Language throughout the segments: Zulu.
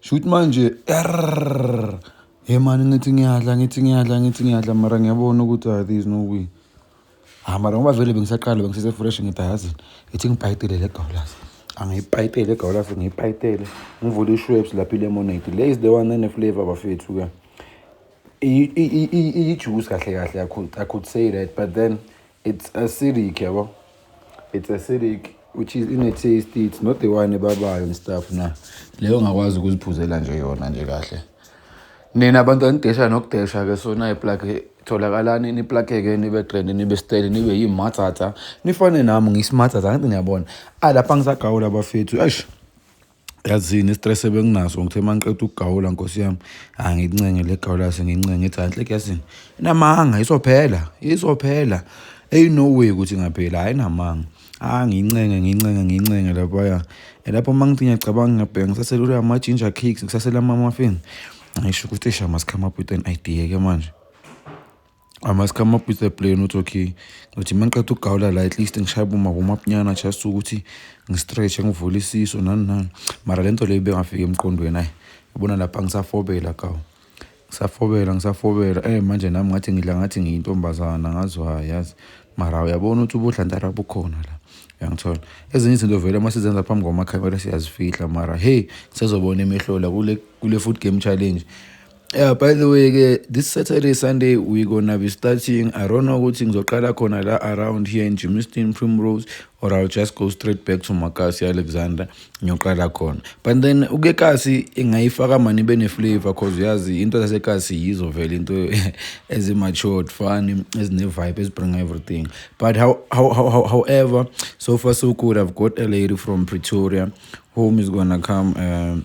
Shuthi manje err hey mani ngithi ngiyadla ngithi ngiyadla ngithi ngiyadla mara ngiyabona ukuthi ah there is no way ah mara ngoba vele bengisaqala bengisesefresh ngithi ayazi ithi ngibhayidele le gawulazi angiyipayitele egawulazi ngiyipayitele ngivule ishwebs lapho ilemonade le is the one eneflavor bafethu ke iyijuice kahle kahle i could say that but then It's acidic yabo. It's acidic which is in a taste it's not the one ebabayo and stuff na. Leyo ngakwazi ukuziphuzela nje yona nje kahle. Nina abantu anidesha nokudesha ke sona iplug tholakalani niplakeke nibe trend nibe style nibe yimathatha nifane nami ngismathatha kanti niyabona alapha ngisagawula bafethu eish yazini istress ebenginaso ngithe mangiqeda ukugawula nkosi yami hayi ngincenge le gawula yase ngincenge ngithi hayi nhleke yazini inamanga isophela isophela eyi no way ukuthi ngaphela hayi namanga ah ngincenge ngincenge ngincenge laphaya lapho uma ngithi ngiyacabanga ngiyabheka ngisaselula ama-ginger cakes ngisasela ama-muffin ngisho ukuthi shama sikhama up with an idea ke manje I must come up with a plan ukuthi okay ngithi uma ngiqeda ukugawula la at least ngishaye bomabomapunyana just ukuthi ngistretch-e ngivule isiso nani nani mara le nto leyo ibengafiki emqondweni ayi yabona lapha ngisafobela kawu ngisafobela ngisafobela eh manje nami ngathi ngidla ngathi ngiyintombazana ngazi wayi yazi mara uyabona ukuthi ubudlantara bukhona la uyangithola ezinye izinto vele uma sizenza phambi kwamakhamera siyazifihla mara hey sezobona emehloli kule kule food game challenge Yeah, by the way ke this Saturday Sunday we gonna be starting I don't know ukuthi ngizoqala khona la around here in Germiston Primrose or I'll just go straight back to Makasi Alexander ngiyoqala khona but then uke kasi ingayifaka mani bene flavor cause uyazi into zase kasi yizo vele into ezi matured fun ezine vibe ezibring everything but how, how, how, however so far so good I've got a lady from Pretoria whom is gonna come um,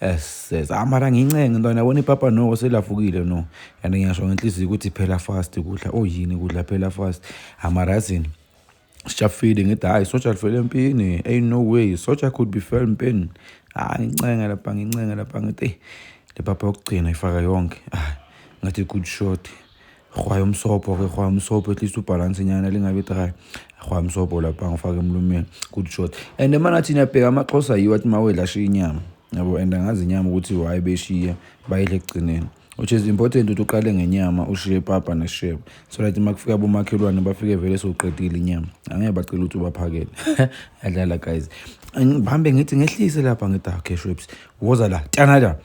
Yes, ah mara ngincenge ntwana yabona ipapa noko selafukile no and ngiyasho ngenhliziyo ukuthi phela fast kudla oyini kudla phela fast amara yazini sijafile ngithi hhayi soja lifele empini ain't no way soja could be fell empini ah ngincenge lapha ngincenge lapha ngithi eyi le papa yokugcina ifaka yonke ah ngathi good shot Rhwaya umsobho ke rhwaya umsobho at least ubhalanse nyana lingabi dry rhwaya umsobho lapha ngifake emlumeni good shot and emanathi niyabheka amaxhosa yiwo athi mawedla ashiya inyama yabo and angazi inyama ukuthi why beshiya bayidla ekugcineni which is important ukuthi uqale ngenyama ushiye papa neshebo so that uma kufika abomakhelwane bafike vele sewuqedile inyama angeke bacela ukuthi ubaphakele adlala guys ngihambe ngithi ngehlise lapha ngithi okay shweps woza la tyanada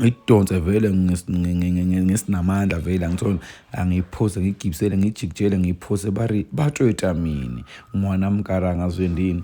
ngidonse vele ngesinamandla vele angithole angiphose ngigibisele ngijikijele ngiphose bari batshweta mina umwana mkaranga azwendini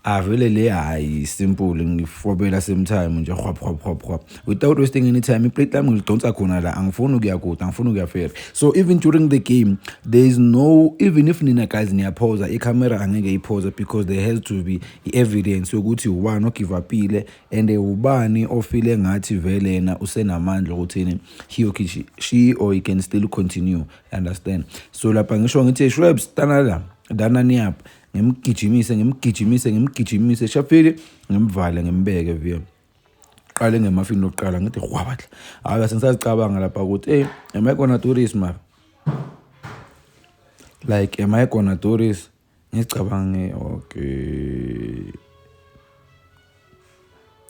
avele le hayi simple ngifobela same time nje hwap hwap hwap hwap without wasting any time iplate lami ngilidonsa khona la angifuni ukuya kude angifuni ukuya fair so even during the game there is no even if nina guys niyaphoza icamera angeke iphoze because there has to be i-evidence yokuthi one ogive upile And ubani ofile ngathi vele yena usenamandla okuthini he or she, she or he can still continue understand so lapha ngisho ngithi shwebs tanala dana niyap ngimgijimise ngimgijimise ngimgijimise shafile ngimvale ngimbeke via qale ngemafini lokuqala ngithi hwabatla hayi sengisazicabanga lapha ukuthi hey am i gonna do this mara like am i gonna do this ngicabange okay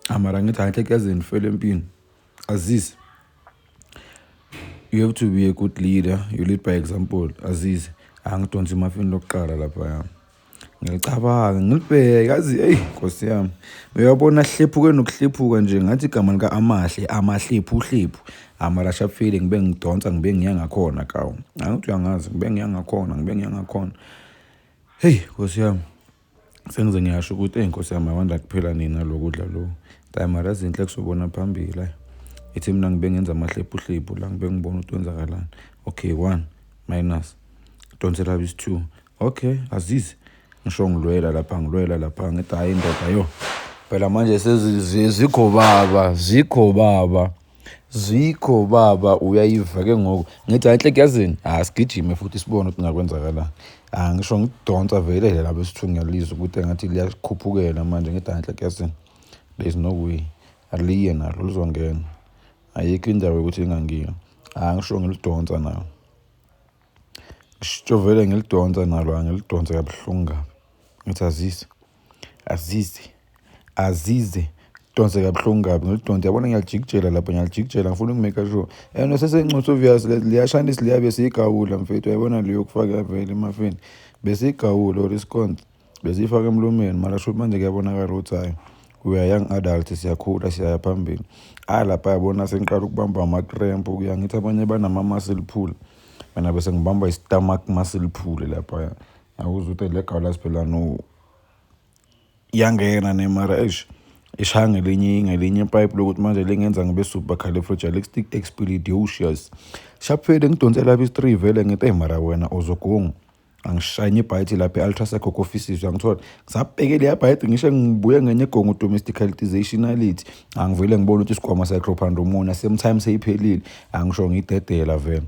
amara ngithi angithekezeni fele empini azize you have to be a good leader you lead by example azize angidonsi imafini lokuqala lapha yami ngiyacabanga ngilibheke yazi eyi nkosi yami uyabona hlephuke nokuhlephuka nje ngathi igama lika-amahle amahlephu uhlephu amarashafile ngibe ngidonsa ngibe ngiya ngakhona kawu angithi uyangazi ngibe ngiya ngakhona ngibe ngiya ngakhona Heyi nkosi yami sengize ngiyasho ukuthi eyi nkosi yami awanda kuphela nina lo kudla lo tayimara ezinhle kusobona phambili ayi ithi mina ngibe ngenza amahlephuhlephu la ngibe ngibona ukuthi wenzakalani okay one minus donsela bisi two okay azizi ngisho ngilwela lapha ngilwela lapha ngithi hhayi indoda yo phela manje sezikho baba zikho baba Zwikho baba uyayiva ke ngoku ngithi hayi nhleke yazini hayi sigijime futhi sibone ukuthi ngakwenzakalani ah ngisho ngidonsa vele le labo sithungelizwe ukuthi engathi liyakhuphukela manje ngithi hayi nhleke yazini there is no way aliye nalo lizongena ayikho indawo yokuthi lingangeni ah ngisho ngilidonsa nayo ngisho vele ngilidonsa nalo angilidonse kabuhlungu kabi ngithi azise azize azize donse kabuhlungu kabi ngilidonse yabona ngiyalijikijela lapho ngiyalijikijela ngifuna ukumeka sure and sesencusa obvious liyashanisa liyabe siyigawula mfethu yayibona leyo kufaka vele emafeni besigawula or isiconse besiyifaka emlomeni mara shuthi manje kuyabonakala ukuthi hhayi we are young adult siyakhula siyaya phambili hhayi lapha yabona sengiqala ukubamba amakrempu kuya ngithi abanye banama-muscle pull mina bese ngibamba i-stomach muscle pull laphaya awuze uthi le gawula siphela no yangena ne mara eish ishaya ngelinye ngelinye ipipe lokuthi manje lingenza ngibe supercalifragilistic stick expeditious shaphele ngidonse lapha istri vele ngithi hey mara wena uzogunga angishayine ibhayithi lapha e-ultraseco offices uyangithola ngisabheke leya bhayithi ngisho ngibuye ngenye egongo domesticalitization alithi angivele ngibone ukuthi isigwama secropandromona same time seyiphelile angisho ngidedela vele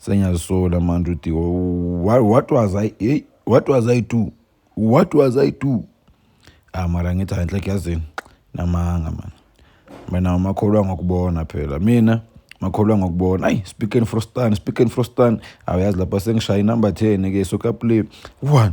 Sengiyazisola manje uthi what was I hey what was I do? What was I do? Ah mara ngithi hayi inhleke yazini namanga man. Mina makholwa ngokubona phela. Mina makholwa ngokubona. Ayi speaking for stan, speaking for stan. Awuyazi lapha sengishaya inumber 10 ke so ka play 1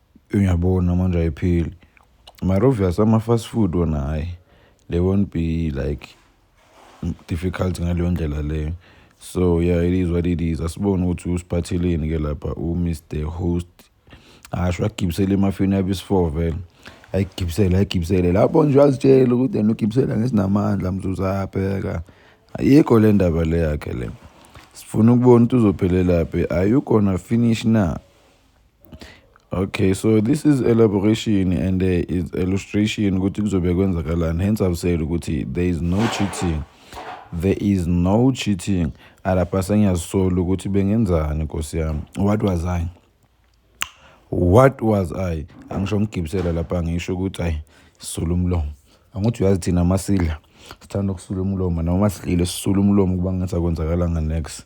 Uyabona manje ayipheli. Marovias ama-fast food wona hhayi they won't be like difficult ngaleyo ndlela leyo. So yeah it is what it is. Asibone ukuthi usiphatheleni ke lapha uMr Host. Asho agibisele emafini yabe isifour vele. Ayigibisele ayigibisele lapho nje azitshela ukuthi yena ugibisela ngesinamandla mzuzabheka. Ayikho le ndaba le yakhe le. Sifuna ukubona ukuthi uzophelelaphi. Are you gonna finish na? Okay, so this is elaboration and uh, it's illustration ukuthi kuzobe kwenzakalani. Hence I've said ukuthi there is no cheating. There is no cheating. Alapha sengiyazisola ukuthi bengenzani Nkosi yami. What was I? What was I? Angisho ngigibisela lapha ngisho ukuthi ayi sula umlomo. Angithi uyazi thina masidla sithanda ukusula umlomo noma masidlile sisula umlomo kuba ngathi akwenzakalanga next.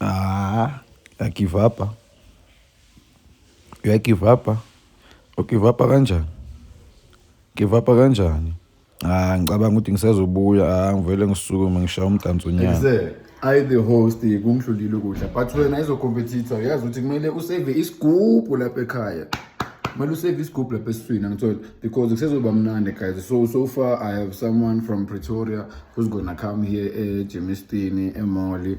Ah, ya give up. Ah. Ya give up. Ah. O give up kanjani? Give up kanjani? Ah, ngicabanga ukuthi ngisazobuya. Ah, ngivele ngisukume ngishaya umdanso nyana. I the host kungidlulile ukudla but wena izo competitor uyazi ukuthi kumele usave isigubhu lapha ekhaya. Kumele usave isigubhu lapha esiswini angithola because kusezoba mnandi guys. So so far I have someone from Pretoria who's gonna come here eGemistini, eMolly.